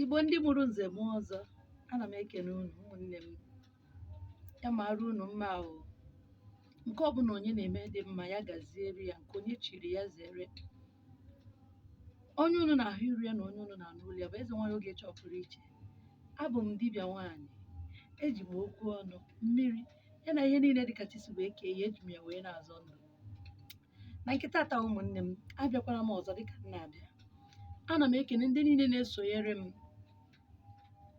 Igbo ndị mụrụ nze mụọ ọzọ ana m ekene unu ụmụnne m ya mara unu mma ahụ nke ọbụla onye na-eme dị mma ya gaziere ya nke onye chiri ya zere onye unu na-ahụ iru ya na onye unu na-anụ olu ya bụ eze nwanyị Ogechi ọpụrụ iche abụ m dibịa nwaanyị eji m okwu ọnụ mmiri ya na ihe niile dịka chi si wee kee ya eji m ya wee na-azọ ndụ na nke tata ụmụnne m abịakwara m ọzọ dịka m na-abịa ana m ekene ndị niile na-esonyere m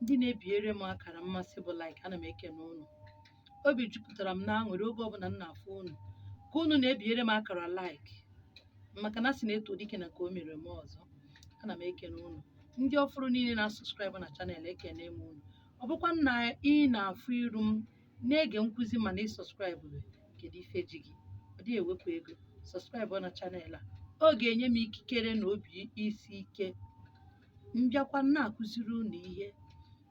ndị na-ebinyere m akara mmasị bụ like ana m ekene unu obi jupụtara m n'aṅụrị oge ọbụla m na-afụ unu ka unu na-ebinyere m akara like maka na a sị na e too dike na nke o mere o mee ọzọ ana m ekene unu ndị ọfụrụ niile na-asubscribe na channel ekene m unu ọ bụkwa na ị na-afụ iru m na-ege nkụzi mana ị subscribe kedu ife ji gị ọ dịghị ewepụ ego subscribe na channel a ọ ga-enye m ikikere na obi isi ike m bịakwa na-akụziri unu ihe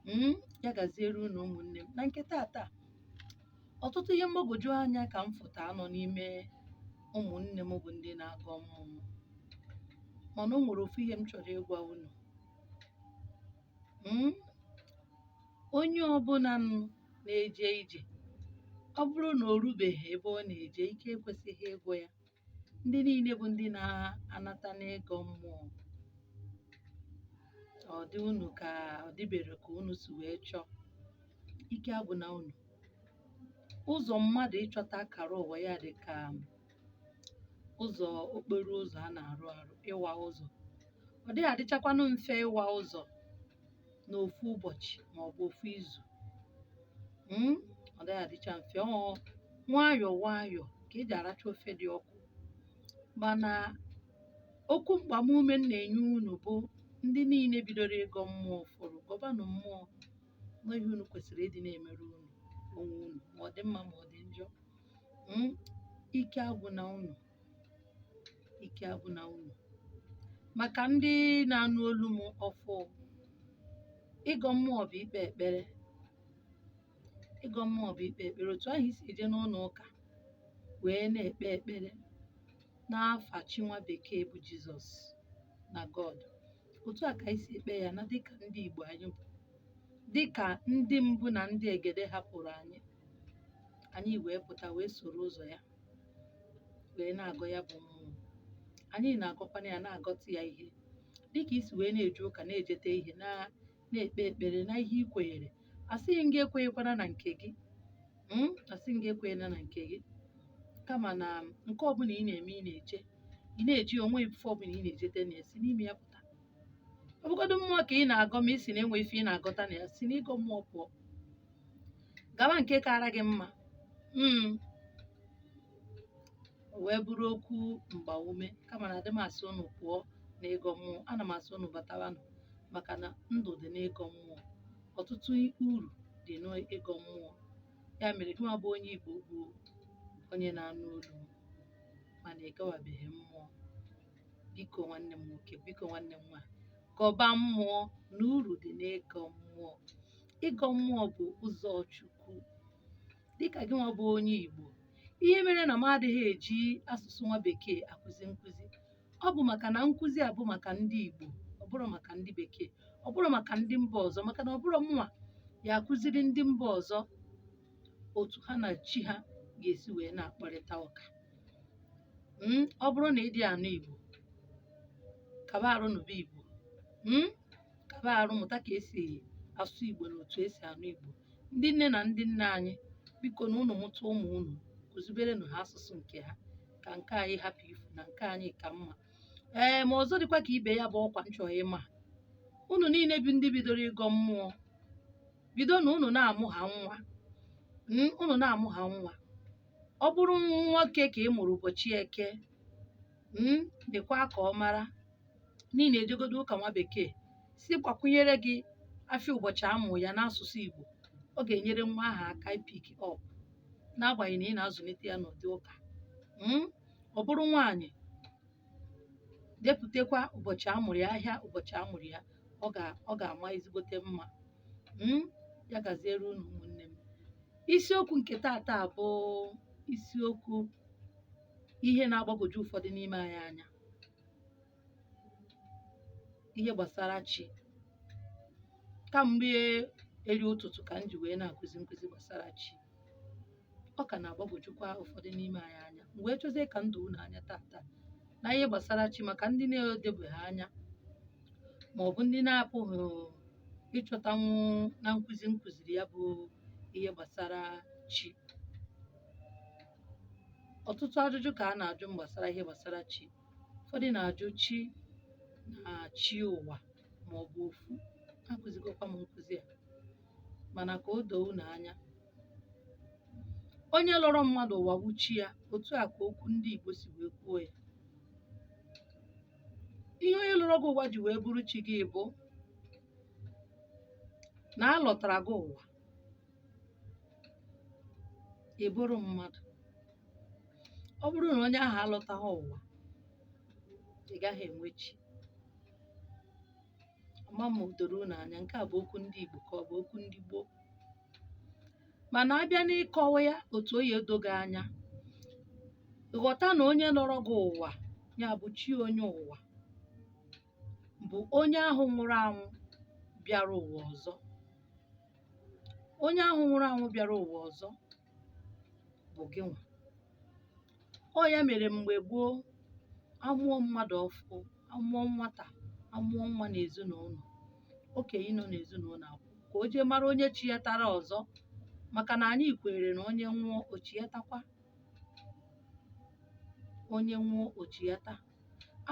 mm, ya gaziere unu ụmụnne m na nke tata ọtụtụ ihe mgbagwoju anya ka m fụtaanụ n'ime ụmụnne m bụ ndị na-agọ mmụọ mana o nwere ofu ihe m chọrọ ịgwa unu Mm, onye ọbụla nụ na-eje ije ọ bụrụ na o rubeghị ebe ọ na-eje ike ekwesịghị ịgwụ ya ndị niile bụ ndị na-anata n'ịgọ mmụọ ọ dị unu ka ọ dịbere ka unu si wee chọọ ike agwụna unu ụzọ mmadụ ịchọta akara ụwa ya dị ka ụzọ okporo ụzọ a na-arụ arụ ịwa ụzọ ọ dịghị adịchakwanụ mfe ịwa ụzọ n'ofu ụbọchị ma ọ bụ ofu izu Mm, ọ dịghị adịcha mfe ọ nwayọọ nwayọọ ka eji aracha ofe dị ọkụ mana okwu mgbamume m na-enye unu bụ ndị niile bidoro ịgọ mmụọ ọfụrụ gọbanụ mmụọ na ọ ihe unu kwesịrị ịdị na-emere unu onwe unu ma ọ dị mma ma ọ dị njọ Mm, ike agwụna unu ike agwụna unu maka ndị na-anụ olu m ọfụụ ịgọ mmụọ bụ ikpe ekpere ịgọ mmụọ bụ ikpe ekpere otu ahụ i si eje n'ụlọ ụka wee na-ekpe ekpere n'afa chi nwa bekee bụ jizọs na god otu a ka anyị si ekpe ya na dịka ndị igbo anyị bụ dịka ndị mbụ na ndị egede hapụrụ anyị anyị wee pụta wee soro ụzọ ya wee na-agọ ya bụ mmụọ anyị na-agọkwana ya na-agọta ya ihe dịka i si wee na-eje ụka na-ejete ihe na na-ekpe ekpere na ihe ị kwenyere asịghị m gị ekwenyekwana na nke gị mm, asịghị m gị ekwenyela na nke gị kama na nke ọbụla ị na-eme ị na-eche ị na-eje o nwe ife ọbụla ị na-ejete na ya si n'ime ya pụta ọ bụgodo mmụọ ka ị na-agọ ma ị si na enwe ife ị na-agọta na ya si n'ịgọ mmụọ pụọ gawa nke kara gị mma Mm. O wee bụrụ okwu mgbaume kama na adị m asị unu pụọ n'ịgọ mmụọ ana m asị unu batawanụ maka na ndụ dị n'ịgọ mmụọ ọtụtụ uru dị n'ịgọ mmụọ ya mere gị nwa bụ onye igbo bụ onye na-anụ olu m mana ị gọwabeghị mmụọ biko nwanne m nwoke biko nwanne m nwaanyị gọba mmụọ na uru dị n'ịgọ mmụọ ịgọ mmụọ bụ ụzọ Chukwu dịka gị nwa bụ onye Igbo ihe mere na m adịghị eji asụsụ nwa bekee akụzi nkụzi ọ bụ maka na nkụzi a bụ maka ndị Igbo ọ bụrọ maka ndị bekee ọ bụrọ maka ndị mba ọzọ maka na ọ bụrọ mụnwa ya akụziri ndị mba ọzọ otu ha na chi ha ga-esi wee na-akparịta ụka Mm, ọ bụrụ na ị dị anụ Igbo kaba arụ nụba Igbo Mm, kaba arụ mụta ka esi asụ igbo na otu esi anụ igbo ndị nne na ndị nna anyị biko na unu mụta ụmụ unu kụziberenụ ha asụsụ nke ha ka nke anyị hapụ ifu na nke anyị ka mma ee ma ọzọ dịkwa ka ibe ya bụ ọkwa m chọ ịma unu niile bụ ndị bidoro ịgọ mmụọ bido na unu na-amụ ha nwa Mm, unu na-amụ ha nwa ọ bụrụ nwoke ka ị mụrụ ụbọchị eke mm, dekwaa ka ọ mara n'ihi na ejegodo ụka nwa bekee sị gbakwunyere gị afịa ụbọchị a mụrụ ya n'asụsụ Igbo ọ ga-enyere nwa ahụ aka ị pick up n'agbanyeghị na ị na-azụlite ya n'ụdị ụka Mm, ọ bụrụ nwaanyị depụtakwa ụbọchị a mụrụ ya ahịa ụbọchị a mụrụ ya ọ ga- ọ ga-ama ezigbote mma Mm, ya gaziere unu ụmụnne m isiokwu nke taata bụ isiokwu ihe na-agbagwoju ụfọdụ n'ime anyị anya ihe gbasara chi kamgbe eri ụtụtụ ka m ji wee na-akụzi nkụzi gbasara chi ọ ka na-agbagwojukwa ụfọdụ n'ime anyị anya m wee chọzie ka m doo unu anya taata na ihe gbasara chi maka ndị na-edobeghị anya ma ọ bụ ndị na-apụghị ịchọtanwu na nkụzi m kụziri ya bụ ihe gbasara chi ọtụtụ ajụjụ ka a na-ajụ m gbasara ihe gbasara chi ụfọdụ na-ajụ chi na chi ụwa ma ọ bụ ofu akụzigokwa m nkụzi a mana ka o doo unu anya onye lọrọ mmadụ ụwa bụ chi ya otu a ka okwu ndị Igbo si wee kwuo ya ihe onye lọrọ gị ụwa ji wee bụrụ chi gị bụ na a lọtara gị ụwa ị bụrụ mmadụ ọ bụrụ na onye ahụ alọtaghị ụwa ị gaghị enwe chi ama m o doro unu anya nke a bụ okwu ndị Igbo ka ọ bụ okwu ndị gboo mana a bịa n'ịkọwa ya otu ọ ya-edo gị anya ghọta na onye lọrọ gị ụwa ya bụ chi onye ụwa bụ onye ahụ nwụrụ anwụ bịara ụwa ọzọ onye ahụ nwụrụ anwụ bịara ụwa ọzọ bụ gị nwa ọ ya mere mgbe gboo a mụọ mmadụ ọfụụ a mụọ nwata a mụọ nwa n'ezinụlọ okenye nọ n'ezinụlọ akwụ ka o jee mara onye chighatara ọzọ maka na anyị kweere na onye nwụọ o chighatakwa onye nwụọ o chighata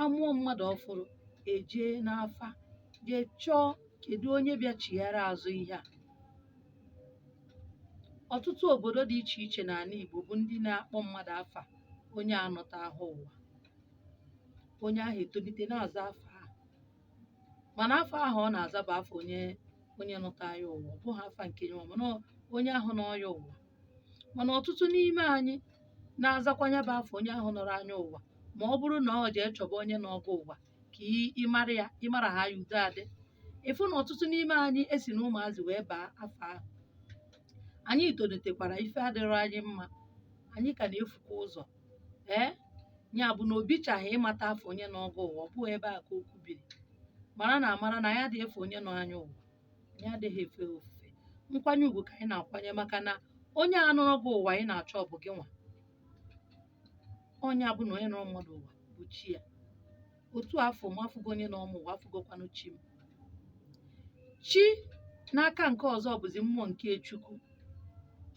a mụọ mmadụ ọfụrụ e jee n'afa jee chọọ kedu onye bịa chighara azụ ihe a ọtụtụ obodo dị iche iche n'ala Igbo bụ ndị na-akpọ mmadụ afa onye anọta ahụ ụwa onye ahụ etolite na-aza afa ahụ mana afa ahụ ọ na-aza bụ afa onye onye nọta ya ụwa ọ bụghị afa nke ya ụwa mana ọ- onye ahụ nọ ya ụwa mana ọtụtụ n'ime anyị na-azakwa nya bụ afa onye ahụ nọrọ anyị ụwa ma ọ bụrụ na ọ jee chọba onye nọọ gị ụwa ka ị- ị mara ya ị mara ha ya udo adị ị fụ na ọtụtụ n'ime anyị esi na ụmụazị wee baa afa ahụ anyị tolitekwara ife adịrọ anyị mma anyị ka na-efukwa ụzọ ee ya bụ na o bichaghị ịmata afa onye nọọ gị ụwa ọ bụghị ebe a ka okwu biri mara na amara na anyị adịghị efe onye nọ anyị ụwa anyị adịghị efe ya ofufe nkwanye ugwu ka anyị na-akwanye maka na onye a nọrọ gị ụwa ị na-achọ bụ gị nwa ọ nya bụ na onye nọrọ mmadụ ụwa bụ chi ya otu afọ m afụgo onye nọ m ụwa afụgokwanụ chi m chi n'aka nke ọzọ bụzi mmụọ nke chukwu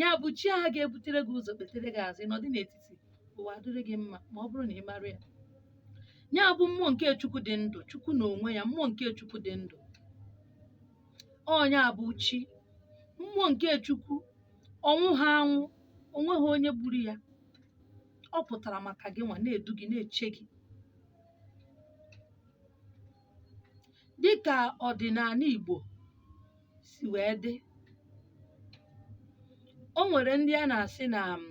ya bụ chi ahụ ga-ebutere gị ụzọ kpetere gị azụ ị nọdụ n'etiti ụwa adịrị gị mma ma ọ bụrụ na ị mara ya ya bụ mmụọ nke chukwu dị ndụ chukwu n'onwe ya mmụọ nke chukwu dị ndụ ọ nya bụ chi mmụọ nke chukwu ọ nwụha anwụ o nweha onye gburu ya ọ pụtara maka gị nwa na-edu gị na-eche gị dịka ọdịnala Igbo si wee dị o nwere ndị a na-asị na um,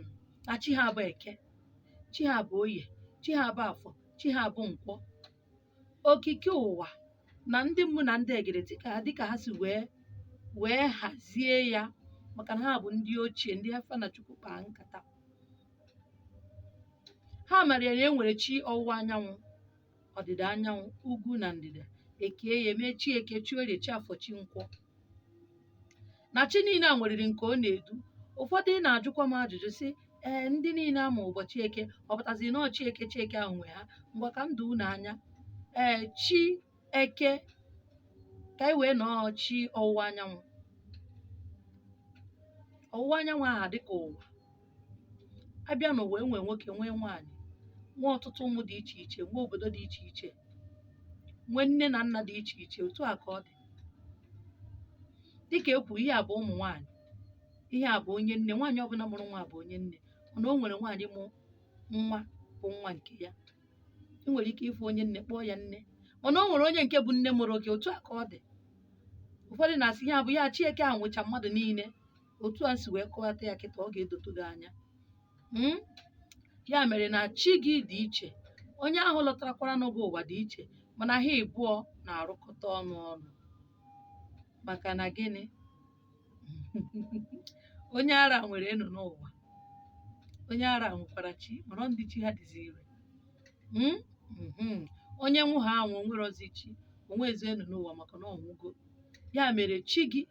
na chi ha bụ eke chi ha bụ oye chi ha bụ afọ chi ha bụ nkwọ okike ụwa na ndị mbụ na ndị egede dịka dịka ha si wee wee hazie ya maka na ha bụ ndị ochie ndị a fa na chukwu kpaa nkata ha mara ya na e nwere chi ọwụwa anyanwụ ọdịda anyanwụ ugwu na ndịda e kee ya e mee chi eke chi orie chi afọ chi nkwọ na chi niile a nweriri nke ọ na-edu ụfọdụ na-ajụkwa m ajụjụ sị ee ndị niile a mụ ụbọchị eke ọ pụtazi na ọ chi eke chi eke ahụ nwe ha ngwa ka m doo unu anya ee chi eke ka anyị wee na ọ chi ọwụwa anyanwụ ọwụwa anyanwụ aha dịka ụwa a bịa n'ụwa e nwee nwoke nwee nwaanyị nwee ọtụtụ ụmụ dị iche iche nwee obodo dị iche iche nwee nne na nna dị iche iche otu a ka ọ dị dịka e kwuru ihe a bụ ụmụ nwaanyị ihe a bụ onye nne nwaanyị ọbụla mụrụ nwa bụ onye nne mana o nwere nwaanyị mụ nwa bụ nwa nke ya ị nwere ike ịfụ onye nne kpọọ ya nne mana o nwere onye nke bụ nne mụrụ gị otu a ka ọ dị ụfọdụ na-asị ihe a bụ ya chi eke a nwecha mmadụ niile otu a si wee kọwata ya kịta ọ ga-edotu gị anya Mm? ya mere na chi gị dị iche onye ahụ lọtarakwara gị ụwa dị iche mana ha ịbụọ na-arụkọta ọrụ ọnụ maka na gịnị onye ara nwere enu n'ụwa onye ara nwekwara chi mana ndị chi ha dịzi ire Mm? Mhm. onye nwụ ha anwụ o nwerọzi chi o nwezi enu n'ụwa maka na ọ nwụgo ya mere chi gị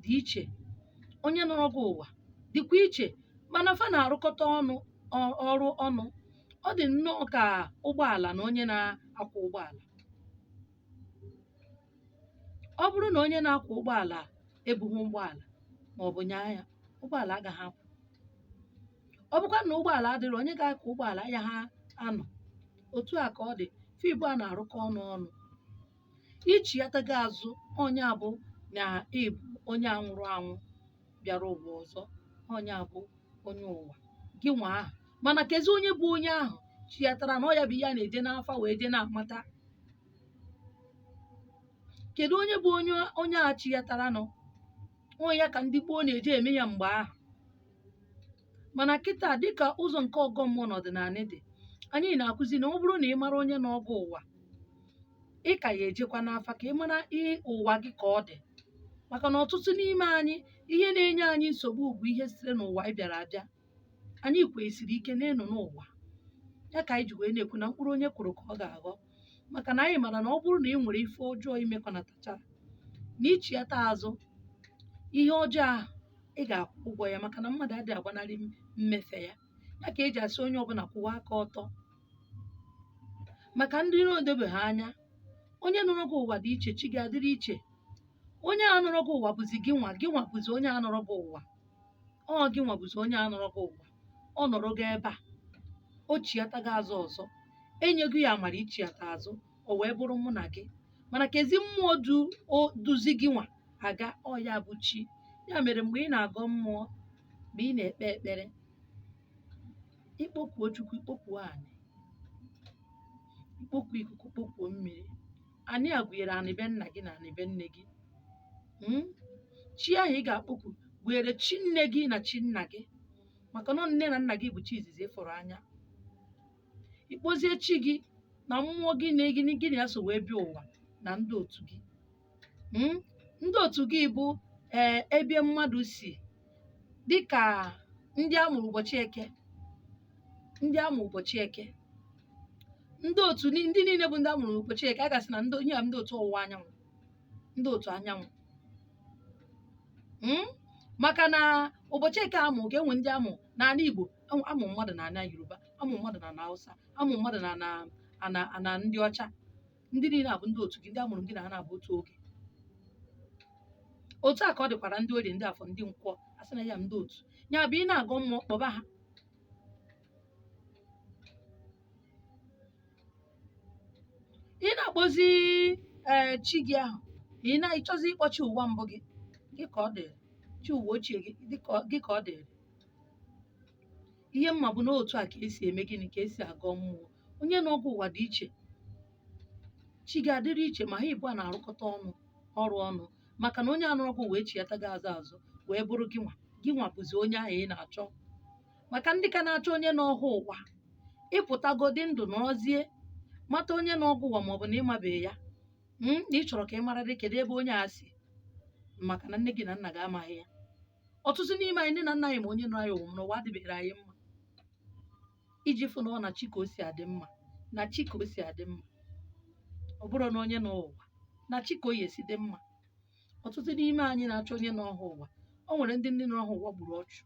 dị iche onye nọrọ gị ụwa dịkwa iche mana fa na-arụkọta ọnụ ọ- ọrụ ọnụ ọ dị nnọọ ka ụgbọala na onye na-akwọ ụgbọala ọ bụrụ na onye na-akwọ ụgbọala ebughị ụgbọala ma ọ bụ nyaa ya ụgbọala agaghị apụ ọ bụkwa na ụgbọala adịghị onye ga-akwọ ụgbọala ya ha anọ otu a ka ọ dị fa ịbụa na-arụkọ ọrụ ọnụ ichiyata gị azụ ọ nya bụ na ị bụ onye a nwụrụ anwụ bịara ụwa ọzọ ọ nya bụ onye ụwa gị nwa ahụ mana kezi onye bụ onye ahụ chiyataranụ ọ ya bụ ihe a na-eje n'afa wee je na-amata kedu onye bụ onye onye a chiyataranụ ọ ya ka ndị gboo na-eje eme ya mgbe ahụ mana kịta dịka ụzọ nke ọgọ mmụọ na ọdịnala dị anyị na-akụzi na ọ bụrụ na ị mara onye nọrọ gị ụwa ị ka ya-ejekwa n'afa ka ị mara ihe ụwa gị ka ọ dị maka na ọtụtụ n'ime anyị ihe na-enye anyị nsogbu bụ ihe sitere n'ụwa anyị bịara abịa anyị kwesiri ike na ịnọ n'ụwa ya ka anyị ji wee na-ekwu na mkpụrụ onye kụrụ ka ọ ga-aghọ maka na anyị mara na ọ bụrụ na ị nwere ife ọjọọ imekọnatachara na ichiata azụ ihe ọjọọ ahụ ị ga-akwụ ụgwọ ya maka na mmadụ adịghị agbanarị m- mmefe ya ya ka eji asị onye ọbụla kwụwa aka ọtọ maka ndị na-edobeghị anya onye nọrọ gị ụwa dị iche chi gị adịrị iche onye a nọrọ gị ụwa bụzi gị nwa gị nwa bụzi onye a nọrọ gị ụwa ọ gị nwa bụzi onye a nọrọ gị ụwa ọ nọrọgo ebe a o chiatago azụ ọzọ enyego ya amara ichiata azụ o wee bụrụ mụ na gị mana kezi mmụọ du o duzi gị nwa aga ọ ya bụ chi ya mere mgbe ị na-agọ mmụọ mgbe ị na-ekpe ekpere ikpokuo chukwu ikpokuo anị ikpokuo ikuku kpokuo mmiri anị a gụnyere anị be nna gị na anị be nne gị Mm? chi ahụ ị ga-akpọku gụnyere chi nne gị na chi nna gị maka na nne na nna gị bụ chi izizi ị fụrụ anya ị kpọzie chi gị na mmụọ gị na gị gị na ya so wee bịa ụwa na ndị otu gị Mm? ndị otu gị bụ ee ebe mmadụ si dịkà ndị a mụrụ ụbọchị eke ndị a mụrụ ụbọchị eke ndị otu ni- ndị niile bụ ndị a mụrụ ụbọchị eke a ga-asị na ndị ihe a ndị otu ọwụwa anyanwụ ndị otu anyanwụ Mm? maka na ụbọchị eke amụ ga-enwe ndị amụ na ana Igbo amụ amụ mmadụ na ana Yoruba amụ mmadụ na ana Hausa amụ mmadụ na ana ana ana ndị ọcha ndị niile a bụ ndị otu gị ndị amụrụ gị na ha na-abụ otu oge otu a ka ọ dịkwara ndị orie ndị afọ ndị nkwọ a sị na ya ndị otu ya bụ ị na-agọ mmụọ kpọba ha ị na-akpọzi ee chi gị ahụ ị na-achọzi ịkpọ chi ụwa mbụ gị gị ka ọ dịrị chi ụwa ochie gị dị ka ọ- gị ka ọ dịrị ihe m ma bụ na otu a ka esi eme gịnị ka esi agọ mmụọ onye nọrọ gị ụwa dị iche chi gị adịrị iche ma ha ịbụa na-arụkọta ọnụ ọrụ ọnụ maka na onye a nọrọ gị ụwa echiatago azụ azụ wee bụrụ gị nwa gị nwa bụzi onye ahụ ị na-achọ maka ndị ka na-achọ onye nọrọ ha ụwa ị pụtagodi ndụ nọrọzie mata onye nọrọ gị ụwa maọbụ na ị mabeghị ya mm, na ị chọrọ ka ị mara dị kedu ebe onye a si maka na nne gị na nna gị amaghị ya ọtụtụ n'ime anyị nne na nna anyị ma onye nọ anyị ụwa n'ụwa adịbeghị anyị mma iji fụ na ọ na chi ka o si adị mma na chi ka o si adị mma ọ bụrọ na onye nọ ụwa na chi ka ọ ya-esi dị mma ọtụtụ n'ime anyị na-achọ onye nọrọ ha ụwa o nwere ndị ndị nọrọ ha ụwa gburu ọchụ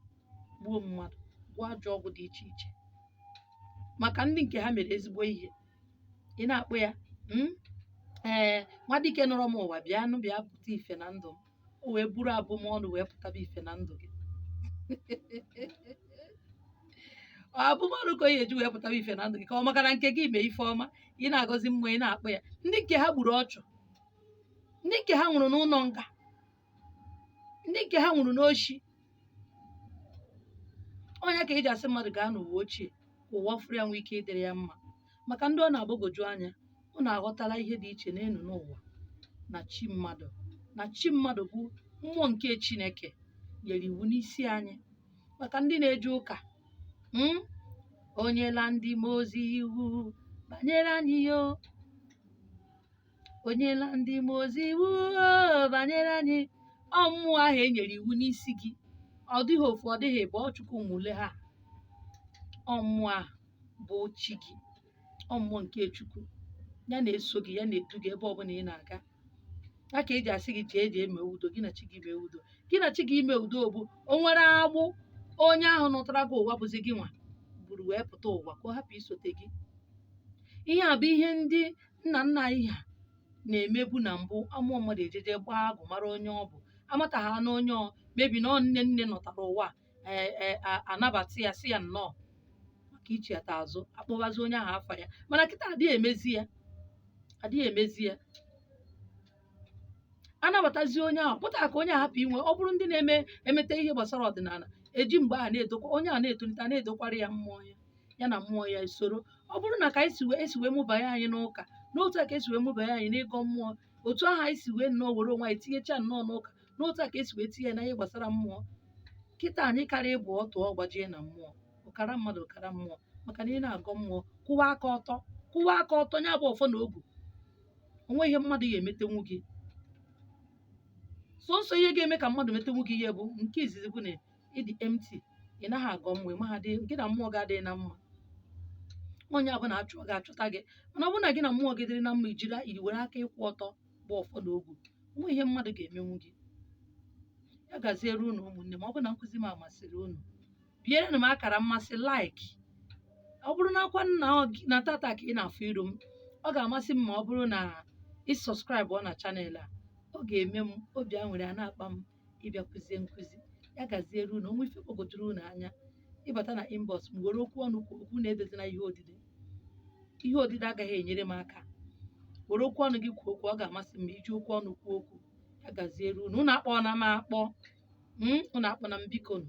gbuo mmadụ gwọọ ajọ ọgwụ dị iche iche maka ndị nke ha mere ezigbo ihe ị na-akpọ ya "Mm, ee nwa dike nọrọ m ụwa bịanụ bịa pụta ife na ndụ m o wee buru abụmọnụ wee pụtaba ife na ndụ gị Ọ abụmọnụ ka o yi eji wee pụtaba ife na ndụ gị ka ọ maka na nke gị mee ife ọma ị na-agọzi mmụọ ị na-akpọ ya ndị nke ha gburu ọchụ ndị nke ha nwụrụ n'ụnọ nga ndị nke ha nwụrụ n'oshi ọ nya ka eji asị mmadụ gaa n'ụwa ochie ka ụwa ọfụrụ ya nwee ike ịdịrị ya mma maka ndị ọ na-agbagoju anya unu aghọtala ihe dị iche n'elu n'ụwa na chi mmadụ na chi mmadụ bụ mmụọ nke chineke nyere iwu n'isi anyị maka ndị na-eje ụka mm, o nyela ndị mmụọ ozi iwu banyere anyị o o nyela ndị mmụọ ozi iwu o, banyere anyị ọ mmụọ ahụ e nyere iwu n'isi gị ọ dịghị ofu ọ dịghị ịbụọ chukwu ma ole ha ọ mmụọ ahụ bụ chi gị ọ mmụọ nke chukwu ya na-eso gị ya na-edu gị ebe ọbụla ị na-aga ya ka eji asị gị jee jee mee udo gị na chi gị mee udo gị na chi gị ime udo bụ o nwere agbụ onye ahụ nọtara gị ụwa bụzi gị nwa buru wee pụta ụwa ka ọ hapụ isote gị ihe a bụ ihe ndị nna nna anyị ha na-emebu na mbụ amụọ mmadụ ejeje gbaa agụ mara onye ọ bụ amata ha na onye ọ maybe na ọ nne nne nọtara ụwa ee ee a- anabata ya sị ya nnọọ maka ichiata azụ akpọbazi onye ahụ afa ya mana kịta adịghị emezi ya adịghị emezi ya anabatazi onye ahụ pụta ka onye a hapụ inwe ọ bụrụ ndị na-eme emeta ihe gbasara ọdịnala eji mgbe a na-edokwa onye a na-etolite na-edokwara ya mmụọ ya ya na mmụọ ya esoro ọ bụrụ na ka anyị si wee esi wee mụbanye anyị n'ụka n'otu a ka esi wee mụbanye anyị n'ịgọ mmụọ otu ahụ anyị si wee nnọọ were onwe anyị tinyecha nnọọ n'ụka n'otu a ka esi wee tinye na ihe gbasara mmụọ kịta anyị karịa ịbụ ọtụ ọ gbajie na mmụọ ọkara mmadụ ọkara mmụọ maka na ị na-agọ mmụọ kwụwa aka ọtọ kwụwa aka ọtọ nya bụ ọfọ na ogu o nweghị ihe mmadụ ya-emetenwu gị sọnsọ ihe ga-eme ka mmadụ metenwu gị ihe bụ nke izizi bụ na ịdị empty ị naghị agọ mmụọ ị maghị gị na mmụọ gị adịghị na mma onye ọbụna chọọ gị achọta gị mana ọ bụrụ na gị na mmụọ gị dịrị na mma i jiri i were aka ịkwụ ọtọ bụ ọfọ na ogu o nweghị ihe mmadụ ga-emenwu gị ya gaziere unu ụmụnne m ọ bụ na nkụzi m amasịrị unu bierenụ m akara mmasị like ọ bụrụ nakwa na ọ gị- na tata ka ị na-afụ iru m ọ ga-amasị m ma ọ bụrụ na ị subscribe na channel a ọ ga-eme m obi aṅụrị a na-akpa m ịbịa kụzie nkụzi ya gaziere unu o nwee ife gbagojuru unu anya ị bata na inbox m were okwu ọnụ kwuo okwu na edezina ihe odide ihe odide agaghị enyere m aka were okwu ọnụ gị kwuo okwu ọ ga-amasị m ma i ji okwu ọnụ kwuo okwu a gaziere unu unu akpọna m akpọ Mm, unu akpọna m bikonu.